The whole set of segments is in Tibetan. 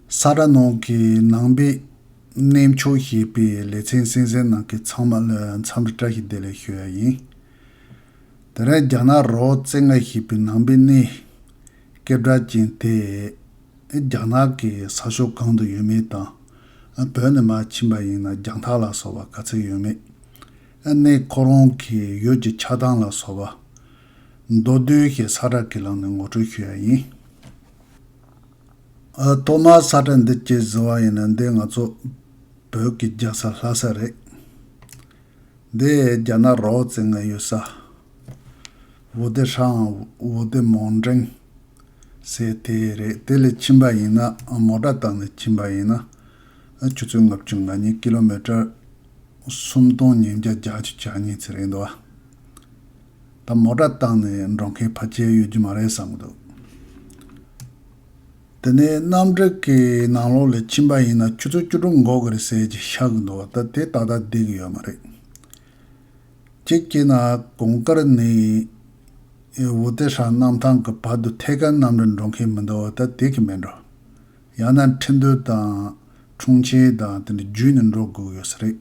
ས་ར་ནང་གི་ནང་པའི་གནས་མཆོག་བཞེས་པའི་ལེ་ཚན་གསན་གསན་ནང་གི་ཚང་མ་ལ་མཚམས་རེ་བཀྲ་ཤིས་བདེ་ལེགས་ཞུ་ཡ་ཡིན། དེ་རིང་རྒྱ་ནག་རོ་བཙན་ང་བཞེས་པའི་ནང་པའི་གནས་སྐད་གྲགས་ཅན་དེ་རྒྱ་ནག་གི་ས་ཕྱོགས་གང་དུ་ཡོད་མེད་དང་བོད་ནས་མ་ཕྱིན་པ་ཡིན་ན་རྒྱང་ཐག་ལ་སོགས་པ་ག་ཚད་ཡོད་མེད་གནས་ཁོ་རང་གི་ཡུལ་གྱི་ཆགས་སྟངས་ལ་སོགས་པ་མདོ་བསྡུས་ཞེས་ས་ར་གི་ལམ་ནས་ངོ་སྤྲོད་ཞུ་ཡ་ཡིན། ཐོག་མར་ས་ཁྲ་འདི་སྐྱེལ་བཟོ་བ་ཡིན་ན་འདི་ང་ཚོ་བོད་ཀྱི་རྒྱལ་ས་ལྷ་ས་རེད། འདི་རྒྱ་ནག་རོགས་བཙན་ལྔ་ཡོད་ས། བོ་ལྡེ་ཧྲའང་བོ་ལྡེ་མོང་འགྲེང་ཟེར་དེ་རེད་དེ་ལས་ཕྱིན་པ་ཡིན་ན་མོ་དགྲ་དང་ལས་ཕྱིན་པ་ཡིན་ན་ཆུ་ཚོད་ལྔ་བཅུ་ང་གཉིས Kilometer སུམ་སྟོང་ཉིས་བརྒྱ་བརྒྱ་བཅུ་གྱ་གཉིས་ཚེ་རེད་འདུག་བ། ད་མོ་སྒྲ་བཏང་ནས་འགྲོ་མཁན་ཕ་ཅལ་ཡོད་རྒྱུ་མ་རེད་བསམ་གི་འདུག། དེ་ནས་གནམ་བྲེག་གི་ནང་ལོགས་ལས་ཕྱིན་པ་ཡིན་ན་ཁྱོད་ཚོ་བཅུ་དྲུག་འགོག་གི་རེད་ཟེར་གྱི་ཤག་གི་འདུག་ད་དེ་ད་ལྟ་བསྡད་གི་ཡོད་མ་རེད། ཅེས་བཀྱེད་ན་གོང་དཀར་ནི་ཝུ་ཏེ་ཧྲན་གནམ་ཐང་གི་བར་དུ་ཐད་ཀར་གནམ་རིར་འགྲོ་མཁན་མི་འདུག་ད་དེ་གི་མེད་འགྲོ། ཡང་ན་ཁྲིན་ཏུའུ་དང་ཁྲུང་ཆིན་དང་དེ་འདྲ་བརྒྱུད་ནས་འགྲོ་དགོས་གི་ཡོད་ས་རེད།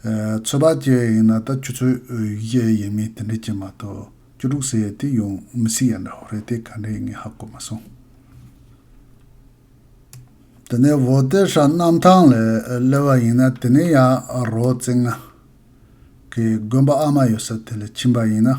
ཚོད་དཔག་བྱས་ཡིན་ན་ད་ཁྱོད་ཚོས་ཡིག་གཞན་ཡིན་མིན་དེ་འདྲས་བྱེད་མ་ཐུབ། སྐྱོ་དྲུག་ཟེར་ཡས་དེ་ཡོང་མི་སྲིད་ཡ་འདྲ་བོ་རེད་དེ་ག་འདྲས་ངས་ཧ་གོ་མ་སོང། དེ་ནས་བོ་ཏེ་ཧྲ་གནམ་ཐང་ལས་སླེ་བ་ཡིན་ན་དེ་ནས་ཡང་རོ་རྩེ་ང། གི་དགོན་པ་ཨ་མ་ཡོད་ས་དེ་ལས་ཕྱིན་པ་ཡིན་ན།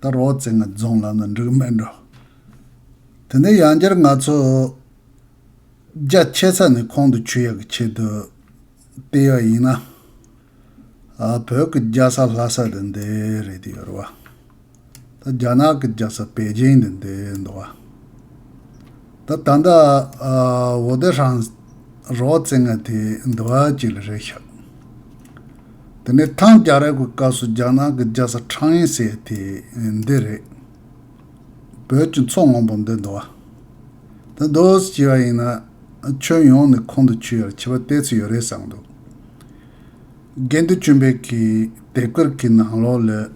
ད་རོག་རྩེ་ལྔ་རྫོང་ལམ་ལ་འབྲུག་སྨན་འགྲོ། དེ་ནས་ཡང་བསྐྱར་ང་ཚོ་རྒྱ་ཆད་ས་ནས་ཁོང་དུ་ཆུད་ཡག་གི་ཆེད་དུ་བལྟས་ཡག་ཡིན་ན། བོད་ཀྱི་རྒྱ་ས་ལྷ་ས་དེ་འདི་རེད་དེ་ཡོད་རེད་བ། ད་རྒྱ་ནག་གི་རྒྱ་ས་པེ་ཅིང་དེ་འདི་འདུག་བ། ད་ད་ལྟ་ཝོ་ཏེ་ཧྲན་རོག་རྩེ་ལྔ་དེ་འདི་བ་གཅིག་ལ་རེད་ཤག། དེ་ནས་ཐང་རྒྱ་རབས་ཀྱི་སྐབས་སུ་རྒྱ་ནག་གི་རྒྱལ་ས་ཁྲང་ཡེ་ཟེར་དེ་འདི་རེད། བོད་ཀྱི་མཚོ་སྔོན་པོ་འདི་འདོ། འདི་འདོ་ཞེས་པ་ཡིན་ན། ཁྱོན་ཡོངས་ནས་ཁོང་དུ་ཆུད་ཡར་ཆད་པ་གཏད་ཚུལ་ཡོད་རེད་བསམ་འདུག། དགེ་འདུན་བྱོན་པས་ཀྱི་དེབ་དཀར་གྱི་ནང་ལོག་ལོས།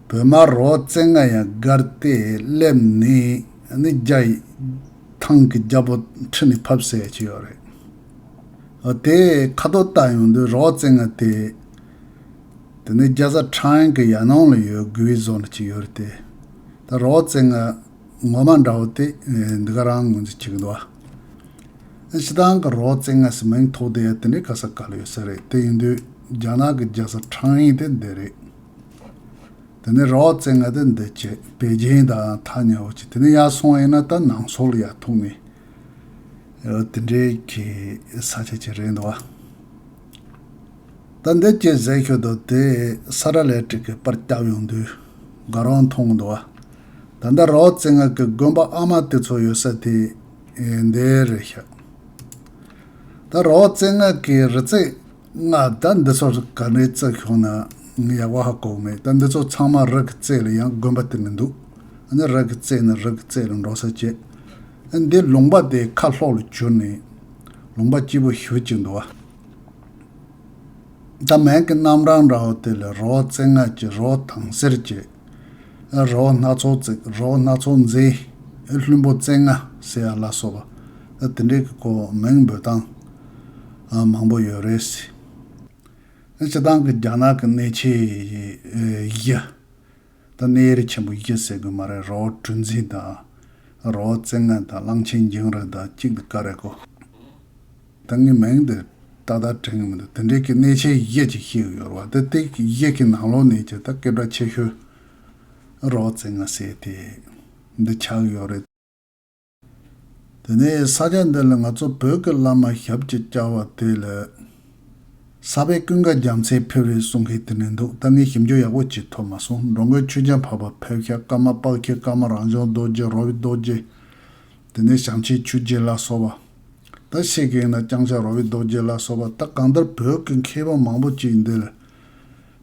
བོད་མ་རོག་བཙན་ང་ཡང་སྒར་དེ་སླེབས་ནས་ནི་རྒྱ་ཡི། ཐང་གི་རྒྱ་པོ་ཁྲི་ནས་ཕབ་ཟེར་གྱི་ཡོད་རེད། དེ་ཁ་དོག་བལྟ་ཡོང་དུས་རོགས་རྩེད་ང་དེ། དེ་ནི་རྒྱ་བཟའ་ཁྲེང་གི་ཡར་སྣང་ལ་ཡོད་དགུ་བའི་ཟོག་འདྲ་གཅིག་ཡོད་རེད་དེ། ད་རོགས་རྩེད་ང་ངོ་མ་འདྲ་བོ་དེ་འདི་ག་རང་ངོས་འཛིན་བྱེད་གི་འདུག་ཨ། ཕྱི་ཐང་གི་རོགས་རྩེད་ང་ཟེར་མིང་ཐོག་དེ་དེ་འདྲའི་ག་ས་ག་ལ་ཡོད་ས་རེད་དེ་ཡིན་དུས་རྒྱ་ནག་གི་རྒྱ་བཟའ་ཁྲེང་ཡིན་དེ་འདི་རེད། དེ་ནི་རོགས་རྩེད་ང་དེ་འདི་བྱེད་པའི་རྒྱན་དང་ཐག་ཉེ་བོ་བྱེད་དེ་ནི་ཡར་སོང་ཡིན་ན་ད་ནང་སོག་ལ་ཡར་ཐུག་ནས། དེ་འདྲའི་གི་ས་ཆ་ཅིག་རེད་འདུག་བ། ད་འདི་གྱི་ཟས་ཤོད་དུ་དེ་ས་ར་ལས་ཀྲིག་གི་པར་བསྐྱབས་ཡོང་དུས་དགའ་རོགས་མཐོང་འདུག་བ། ད་ལྟ་རོགས་རྩེ་ལྔ་གི་དགོན་པ་ཨ་མ་དེ་ཚོ་ཡོད་ས་དེ་འདི་རེད་ཤག། ད་རོགས་རྩེ་ལྔ་གི་རི་རྩེ་སྔགས་བཟླ་འདི་ཚོར་ག་འདྲའི་རྩལ་ཤོང་ན་ཡག་པ་ཧ་གོ་གི་མེད་ད་འདི་ཚོ་ཚང་མ་རག་གི་རྩལ་ལ་ཡང་དགོན་པ་དེ་མི་འདུག་ཨ་ནི་རག་གི་རྩལ་ནི་རག་གི་རྩལ་ལ་འགྲོ་ས་བཅད་ཨ་འདི་ལུང་པ་དེ་ཁ་ལྷོག་ལ་གྱུར་ནས་ལུང་པ་སྐྱིད་པོ་ཞུ་གཅིག་འདུག་ཨ། ད་མན་གྱི་རྣམ་གྲངས་འདྲ་བོ་དེ་ལ་རོ་བཙན་སྔགས་ཀྱི་རོ་དང་སེར་བཅད། རོ་སྣ་ཚོགས་བརྩེགས་རོ་སྣ་ཚོགས་མཛེས། ལྷུན་པོ་རྩེ་ལྔ་ཟེ་ཡ་ལ་སོགས་པ། དེ་འདྲའི་གོ་མིང་འབོད་སྟངས་མང་པོ་ཡོད་རེད། སྤྱི་བཏང་གི་རྒྱ་ནག་གི་གནས་ཆེ་བཞི་དང་གནས་ཡུལ་ཆེན་པོ་བཞི་ཟེར་དགོས་མ་རེད་རོ་གྲུ་འཛིན་དང་རོ་རྩེ་ལྔ་དང་གླང་ཆེན་འགྱིང་རིང་དང་གཅིག་ལ་དཀའ་རེད་གོ། ད་ངའི་མིང་འདི་ཏག་ཏག་དྲན་གི་མི་འདུག་དེ་འདྲའི་གི་གནས་ཆེན་བཞེད་ཅིག་ཤེས་གི་ཡོད་ར་བ་དེ་དེ་བཞེད་གི་ནང་ལོག་ནས་ཀྱི་ད་སྐད་བརྡ་ཆེ་ཤོས་རོགས་བཙལ་ང་ཟེར་དེ་འདི་ཆགས་གི་ཡོད་རེད། དེ་ནས་ས་ཆ་འདི་ལ་ང་ཚོ་བོད་ཀྱི་བླ་མ་ཞབས་ཀྱི་བཅའ་བ་དེ་ལ་ས་པའི་ཀུན་དགའ་རྒྱ་མཚོས་ཕེབས་རེད་གསུང་གི་དེ་ནས་འདུག་ད་ངས་ཞིབ་འཇུག་ཡག་པོ་བྱེད་ཐུབ་མ་སོང་འགྲོ་མགོན་ཆོས་རྒྱལ་འཕགས་པ་ཕེབས་ཤ་ཀ་མ་དཔག་ཁྱི་ཀ་མ་རང་བྱུང་རྡོ་རྗེ་རོ་བི་རྡོ་རྗེ་དེ་ནས་བྱང་ཆའི་ཆུ་རྗེ་ལ་སོགས་པ། ད་ཤེས་ཀྱི་ཡིན་ན་རྐྱང་ཆ་རོ་བའི་རྡོ་རྗེ་ལ་སོགས་པ་ད་གང་ལྟར་བོད་ཀྱི་མཁས་པ་མང་པོ་ཅིག་འདིར་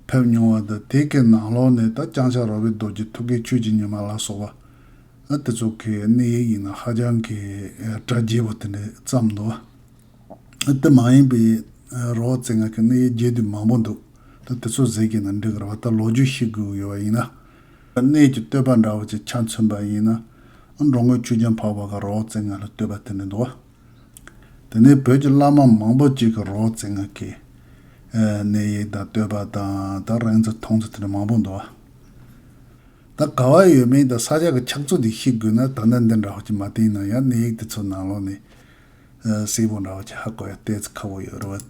ཕེབས་མྱོང་བ་དང་དེ་ཀའི་ནང་ལོགས་ནས་ད་རྐྱང་ཆ་རོ་བའི་རྡོ་རྗེ་ཐུགས་ཀའི་ཆོས་ཀྱི་ཉི་མ་ལ་སོགས་པ། ཨ་དེ་ཚོ་གི་གནས་ཡིག་ཡིན་ན་ཧ་ཅང་གི་དྲ་རྒྱས་པོ་དེ་འདྲས་བརྩམས་འདུག་ཨ་དེ་མ་ཡིན་པའི་རོ་བ་རྩེ་ལྔ་གི་གནས་ཡིག་རྒྱས་དུས་མང་པོ་འདུག་ད་དེ་ཚོ་ཟེར་གྱི་ཡིན་ན་འགྲིག་གི་རེད་བ་ད་ལོ་རྒྱུས་ཤེས་དགོས་ཀྱི་ཡོད་པ་ཡིན་ན། གནས་ཀྱི་བསྟོད་པ་འདྲ་བོ་ཅིག་ཆ་མཚོན་པ་ཡིན་ན། འབྲོང་རྔོན་ཆུ་རྒྱུན་འཕགས་པ་གི་རོགས་རྩེད་ངན་ལ་བསྟོད་པ་དེ་མི་འདུག་བ། དེ་ནས་བོད་ཀྱི་བླ་མ་མང་པོ་ཅིག་གི་རོགས་རྩེད་ངན་གྱི། གནས་ཡིག་དང་བསྟོད་པ་དང་དང་རིང་ཚོ་ཐུང་ཚོ་དེ་འདྲ་མང་པོ་འདུག་བ། ད་ག་བ་ཡོད་མིན་དང་ས་ཆ་གི་ཁྱབ་ཚུལ་དེ་ཤེས་དགོས་ན་ད་ལྟ་འདི་འདྲ་བོ་ཅིག་མ་བསྟན་ན་ཡང་གནས་ཡིག་དེ་ཚོའི་ནང་ལོགས་ནས། གསལ་པོ་འདྲ་བོ་ཅིག་ཧ་གོ་ཡ་བལྟས་ཚེ་ཁག་པོ་ཡོད་རེད་བ།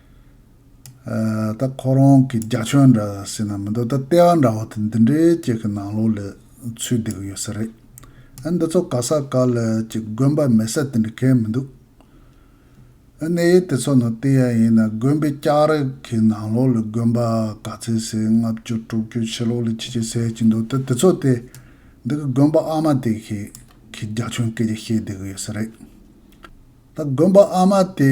ད་ཁོ་རང་གི་རྒྱ་ཁྱོད་འདྲ་ཟེར་ན་མི་འདུག་ད་ལྟེ་བ་འདྲ་བོ་དེ་འདི་འདྲའི་ཅིག་གི་ནང་ལོགས་ལས་ཚུད་བསྡད་གི་ཡོད་ས་རེད། ཨ་འདི་ཚོ་ག་ས་ག་ལ་ཅིག་དགོན་པ་མེད་ས་དེ་འདྲ་གས་མི་འདུག། ཨ་གནས་ཡུལ་དེ་ཚོ་ནང་ལྟེ་ཡ་ཡིན་ན་དགོན་པའི་ལྕགས་རི་གི་ནང་ལོགས་ལས་དགོན་པ་ག་ཚད་ཟེར་ལྔ་བཅུ་དྲུག་བཅུ་ཕྱི་ལོགས་ལས་ཆེ་ཆེ་ཟེར་གྱི་འདུག་ད་དེ་ཚོ་སྟེ་འདི་གི་དགོན་པ་ཨ་མ་དེ་གི་གི་རྒྱ་ཁྱོད་སྐད་ཆ་བཤད་བསྡད་གི་ཡོད་ས་རེད། ད་དགོན་པ་ཨ་མ་དེ་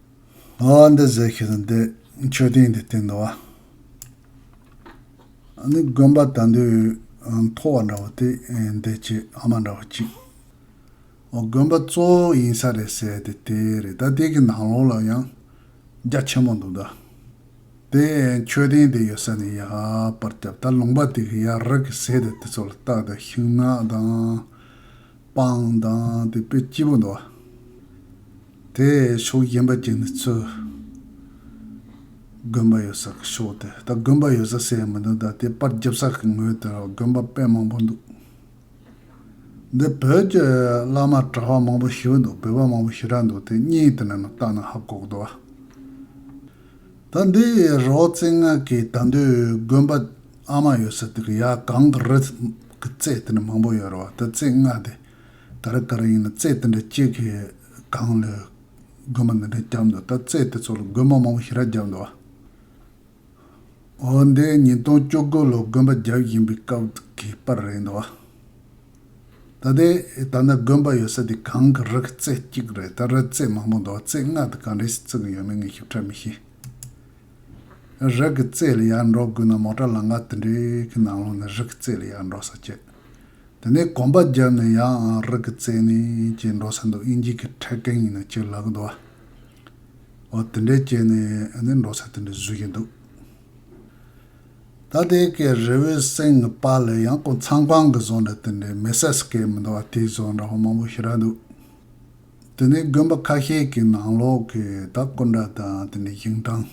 ཨ་ཨ་འདི་ཟེར་ཤེས་སོང་འདི་མཆོད་རྟེན་འདི་སྟེང་དུ་བ། ཨ་ནི་དགོན་པ་དང་དུ་མཐོ་བ་འདྲ་བོ་དེ་འདི་ཆེ་ཨ་མ་འདྲ་བོ་གཅིག་ཨོ་དགོན་པ་གཙོ་བོ་ཡིན་ས་རེད་ཟེར་དེ་དེ་རེད་ད་དེ་གི་ནང་ལོགས་ལ་ཡང་རྒྱ་ཆེན་མོ་འདུག་ད་དེ་མཆོད་རྟེན་དེ་ཡོད་ས་ནས་ཡར་པར་བརྒྱབ་ད་ལུང་པ་དེ་གི་ཡར་རི་གི་ཟེ་དེ་དེ་ཚོ་ལ་བཏགས་ད་ཤིང་ནགས་དང་སྤང་དང་དེ་པོའི་སྐྱེས་བུ་འདུ་བ། དེ་ཕྱོགས་གཞན་པ་ཅན་ནི་ཚུལ། དགོན་པ་ཡོད་ས་ཀྱི་ཕྱོགས་དེ་ད་དགོན་པ་ཡོད་ས་ཟེར་ཡང་མི་འདུག་ད་དེ་པར་འཇབ་ས་ཀྱི་ངོས་དེར་དགོན་པ་དཔེ་མང་པོ་འདུག། འདི་བོད་ཀྱི་བླ་མ་གྲྭ་བ་མང་པོ་ཞི་བ་འདུག་བོད་པ་མང་པོ་ཞི་དྲག་འདུག་དེ་གཉིས་དེ་ན་ན་བརྟག་ན་ཧ་གོག་འདུ་བ། ད་འདི་རོག་རྩེ་ལྔ་གིས་ད་འདོད་དགོན་པ་ཨ་མ་ཡོད་ས་དེར་ཡ་གང་གི་རི་གི་རྩེ་དེ་འདྲ་མང་པོ་ཡོད་རེད་བ་དེ་རྩེ་ལྔ་དེ་ག་རེ་ག་རེ་ཡིན་ན་རྩེ་དེ་འདྲ་གཅིག་གི་སྒང་ལ་རྒོད་མ་འདི་འདྲ་བརྒྱབ་འདུག་ད་རྩེ་དེ་ཚོ་ལ་རྒོད་མ་མང་པོ་ཞེ་དྲག་བརྒྱབ་འདུག་བ། འོ་འདི་ཉིས་སྟོང་བཅུ་དགུ་ལོར་རྒོད་པ་བརྒྱབ་བཞིན་པའི་སྐབས་ཀྱི་པར་རེད་འདུག་བ། ད་ལྟའི་ད་ལྟ་རྒོད་པ་ཡོད་ས་དེ་གང་གི་རི་གི་རྩེ་གཅིག་རེད་ད་རི་རྩེ་མང་པོ་འདུག་བ་རྩེ་ལྔ་དེ་ག་འདྲའི་ཞིག་བརྩིགས་ཡོད་མེད་ངས་ཞིབ་ཕྲ་མི་ཤེས། རིགས་ཀྱི་རྩེ་ལ་ཡར་འགྲོ་དགོས་ན་མོ་ཏྲ་ལང་ཀ་དེ་འདྲའི་གི་ནང་ལོག་ནས་རིགས་ཀྱི་རྩེ་ལ་ཡར་འགྲོ་ས་བྱེད། དེ་ནས་གོམ་པ་བརྒྱབ་ནས་ཡང་རིགས་ཀྱི་རྩེ་ནས་བྱེད་འགྲོ་ས་འདུག་ཨིན་ཇིས་ཀྱི་ཕྲད་གན་ཡིན་ན་བྱེད་ལ་གི་འདུག་ཨ། འོ་དེ་འདྲས་བྱས་ནས་ནི་འགྲོ་ས་དེ་འདྲས་བཟོས་ཀྱི་འདུག། ད་དེ་གའི་རི་བོའི་གསེང་གི་པ་ལ་ཡང་ཀོང་ཚང་ཀང་གི་བཟོ་འདྲ་དེ་འདྲས་མེ་སད་སི་ཀའི་མི་འདུག་ཨ་དེའི་བཟོ་འདྲ་ཧོ་མང་པོ་ཤི་ར་འདུག། དེ་ནས་དགོན་པ་ཁ་ཤས་ཀྱི་ནང་ལོགས་ཀྱི་དག་སྐུ་འདྲ་དང་དེ་ནས་ཞིང་ཐང་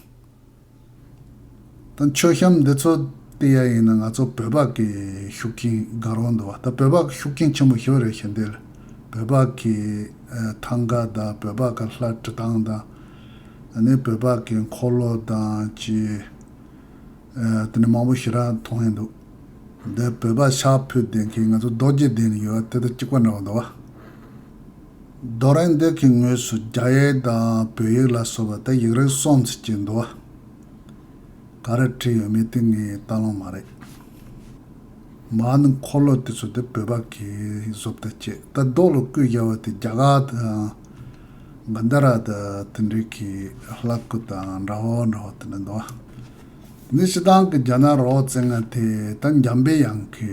དང་མཆོད་བཤམས་འདི་ཚོ་སྟེ་ཡ་ཡིན་ན་ང་ཚོ་བོད་ཕག་གི་ཤུགས་རྐྱེན་དགའ་རོགས་འདུག་བ་ད་བོད་ཕག་ཤུགས་རྐྱེན་ཆེན་པོ་ཞོ་རེད་ཞེ་འདེད་བོད་ཕག་གི་ཐང་ག་དང་བོད་ཕག་གི་ལྷ་བྲི་སྟངས་དང་དེ་ནས་བོད་ཕག་གི་འཁོར་ལོ་དང་ཅི་དེ་ནས་མང་པོ་ཞེ་དྲག་མཐོང་ཡས་འདུག་འདི་བོད་ཕག་ཤག་ཕུད་ལྡན་མཁན་ང་ཚོ་རྡོ་རྗེ་གདན་ནས་ཡོད་བ་དེ་དང་གཅིག་པ་འདྲ་བ་འདུག་བ། རྡོ་རིང་འདི་གི་ངོས་སུ་རྒྱ་ཡིག་དང་བོད་ཡིག་ལ་སོགས་པ་དེ་ཡིག་རིགས་སྲོང་བཙན་གྱི་འདུལ་བ་ག་རེ་བྲིས་ཡོད་མེད་དེ་ངའི་ལྟ་ལོང་མ་རེད། མ་ནི་འཁོར་ལོ་དེ་ཚོ་དེ་བོད་པ་གིས་བཟོ་བལྟ་བྱས་ལྟ་རྡོ་ལོ་སྐུས་རྒྱལ་བ་དེ་རྒྱ་གར་དང་གཱན་དྷ་ར་དང་དེ་འདྲས་ཀྱི་ལྷ་སྐུ་དང་འདྲ་བོ་འདྲ་བོ་དེ་འདྲ་འདུག་ཨ། འདི་ཕྱི་དང་གི་རྒྱ་ནག་རོགས་བཙན་ང་དེ་ད་འཇམ་པའི་དབྱངས་ཀྱི